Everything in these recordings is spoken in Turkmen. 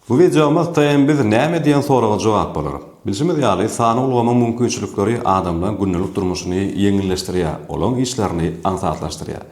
Bu wideomyzda hem biz näme diýen soraga jogap bolar. Bilşimiz ýaly, sanly ulgamyň mümkinçilikleri adamlaryň gündelik durmuşyny ýeňilleşdirýär, olaryň işlerini aňsatlaşdyrýar.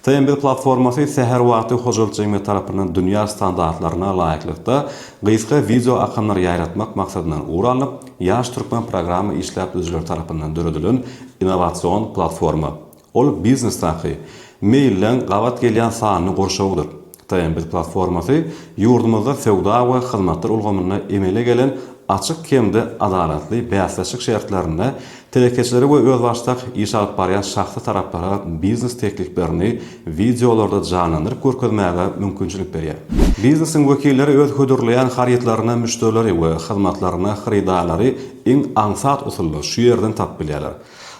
TMBiz platformasy säher wagty hojalyk jemgyýeti tarapyndan dünýä standartlaryna laýyklykda gysga wideo akymlary ýaýratmak maksadyndan ugur alnyp, ýaş türkmen programma işläp düzüjileri tarapyndan döredilen innowasion platforma. Ol biznesdäki meýilleň gabat gelýän sanyny gurşawdyr. TMBiz platformasy ýurdumyzda söwda we hyzmatlar ulgamynda emele gelen açyk hem-de adalatly bäsleşik şertlerinde telekeçilere we özbaşdak iş alyp barýan şahsy taraplara biznes tekliplerini wideolarda janlandyryp görkezmäge mümkinçilik berýär. Biznesiň wekilleri öz hödürleýän harytlaryna müşderileri we hyzmatlaryna hyrydarlary iň aňsat usulda şu ýerden tapyp bilýärler.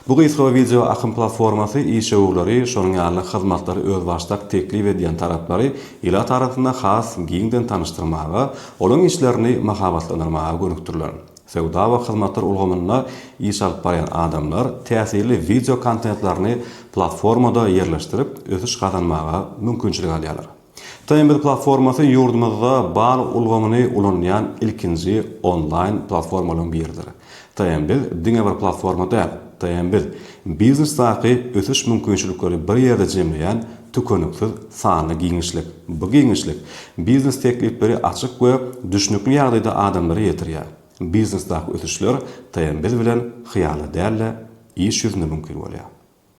Bu gysga wideo akym platformasy işewürleri, şonuň ýaly-da hyzmatlary özbaşdak teklip edýän taraplary ilat arasynda has giňden tanyşdyrmaga, olaryň işlerini mahabatlandyrmaga gönükdirilen. Söwda we hyzmatlar ulgamynda iş alyp barýan adamlar täsirli wideo kontentlerini platformada ýerleşdirip, ösüş gazanmaga mümkinçilik alýarlar. TMBiz platformasy ýurdumyzda bal ulgamyny ulanýan ilkinji onlaýn platformalaryň biridir. TMBiz diňe bir platforma däl, TMBiz, biznesdaky ösüş mümkinçilikleri bir ýerde jemleýän tükeniksiz sanly giňişlik. Bu giňişlik biznes teklipleri açyk we düşnükli ýagdaýda adamlara ýetirýär. Biznesdaky ösüşler TMBiz bilen hyýalda däl-de, iş ýüzünde mümkin bolýar.